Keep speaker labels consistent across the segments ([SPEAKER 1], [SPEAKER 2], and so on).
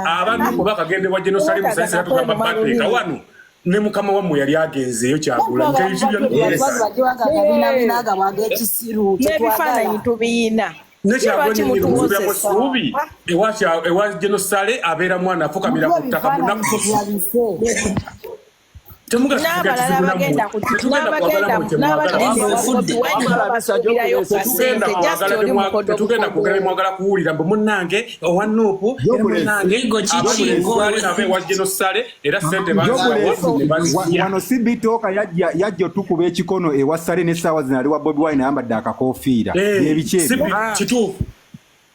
[SPEAKER 1] abanuku bakagenda ewa jenosalimu saisera tugamba bateeka wano ne mukama wammwe yali agenzeeyo kyagula
[SPEAKER 2] nebifaananyi
[SPEAKER 3] tubiyina nekyagomusuubi
[SPEAKER 1] ewa genosale abeera mwana afukamira ku ttaka munaku
[SPEAKER 3] n'abalala bagenda
[SPEAKER 1] kugenda kwogera mwagala kuwulira mbu munnange owa nuupu ewajenosale era sente
[SPEAKER 4] wano sibitooka yajja otukuba ekikono ewa sale n'essaawa zino ali wa bobi wine ayambadde akakofiira eh, ebiki ebyo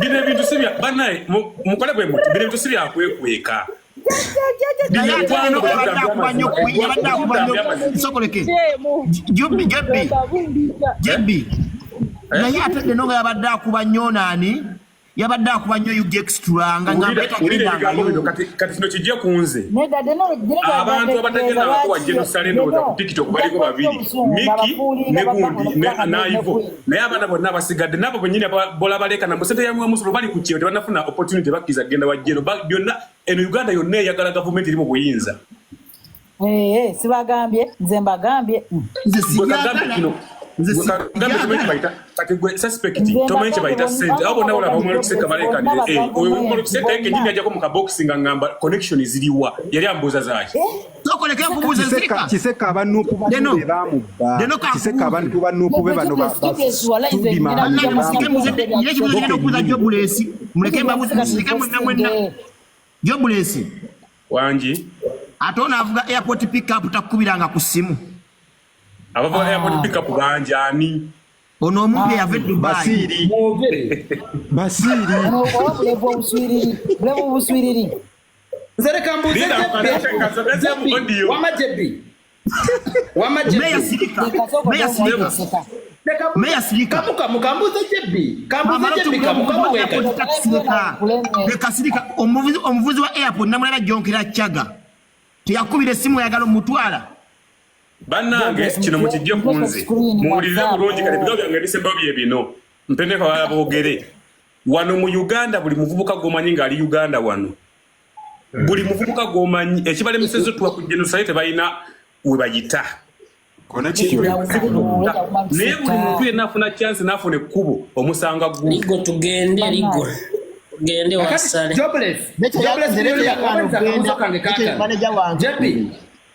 [SPEAKER 1] bino ebintu si bya banaye mukole bwe muti bino ebintu si bya kwekweka
[SPEAKER 2] naye ate deno nga yabadde akuba nyo nani yabadde akuba nyo ugextranga kati
[SPEAKER 1] kino kijja ku nze abantu abatagenda bakuwa jerusalem oda ku tiktok baliko babiri miki ne gundi naivo naye abaana bonna abasigadde nabo benyini bola balekana mu sente yamwe omusolo bali ku kyeyo tebanafuna opportunity bakkiriza kugenda wa jero byonna eno uganda yonna eyagala gavumenti eri mu buyinza eh, eh, sibagambye
[SPEAKER 5] nze
[SPEAKER 1] mbagambye tomanyi kyebayita sente abo bonna bolaba omwana okuseka balekanire eh, oyo omwana okuseka ye kenyini ajako mu kabokisi nga ngamba connection ziriwa yali ambuuza zaaki
[SPEAKER 2] kiseka abanupu
[SPEAKER 4] bamubakiseka abantu banupu be bano
[SPEAKER 2] jobulesi wangi
[SPEAKER 1] ate ono
[SPEAKER 2] avuga airport pickup takukubiranga ku simu abavuga
[SPEAKER 1] ah. airport pickup bangi ani ono omuntu
[SPEAKER 2] eyava ah. edubaiiri
[SPEAKER 4] basiiri
[SPEAKER 5] nze leka
[SPEAKER 6] mbuuze wama jebbi wama
[SPEAKER 2] kambuuze jebbi
[SPEAKER 6] kambuuzejebbikamukamulekasirika
[SPEAKER 2] omuvuzi wa airport namulala jonkera chaga teyakubira esimu yagala omutwala
[SPEAKER 1] bannange kino mukijje kunze muwulirize bulungi kati bigambo byange bisembawo bye bino mpendeko abala boogere wano mu uganda buli muvubuka gwomanyi nga ali uganda wano hmm. buli muvubuka gwomanyi ekibalemesezo tuwa ku genosaye tebalina webayita naye buli muntu yenna afuna kyansi nafuna ekkubo omusanga gwo tugende
[SPEAKER 3] ligo gende
[SPEAKER 6] wasale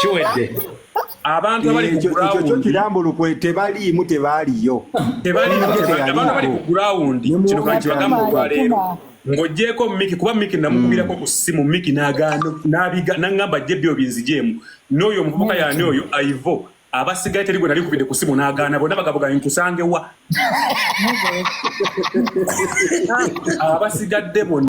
[SPEAKER 1] kiwedde abantu abali ku ground kirambuluko
[SPEAKER 4] tebaliimu tebaliyo tebaliimu
[SPEAKER 1] abantu abali ku ground kino kanti bagamba olwaleero ng'ogyeko miki kuba miki namukubirako ku ssimu miki nangamba jje byo binzijeemu n'oyo omuvubuka yani oyo aivo abasigaye teri gwe nali nkubidde ku ssimu n'agaana bonna bagabuga nkusange wa abasigadde bonna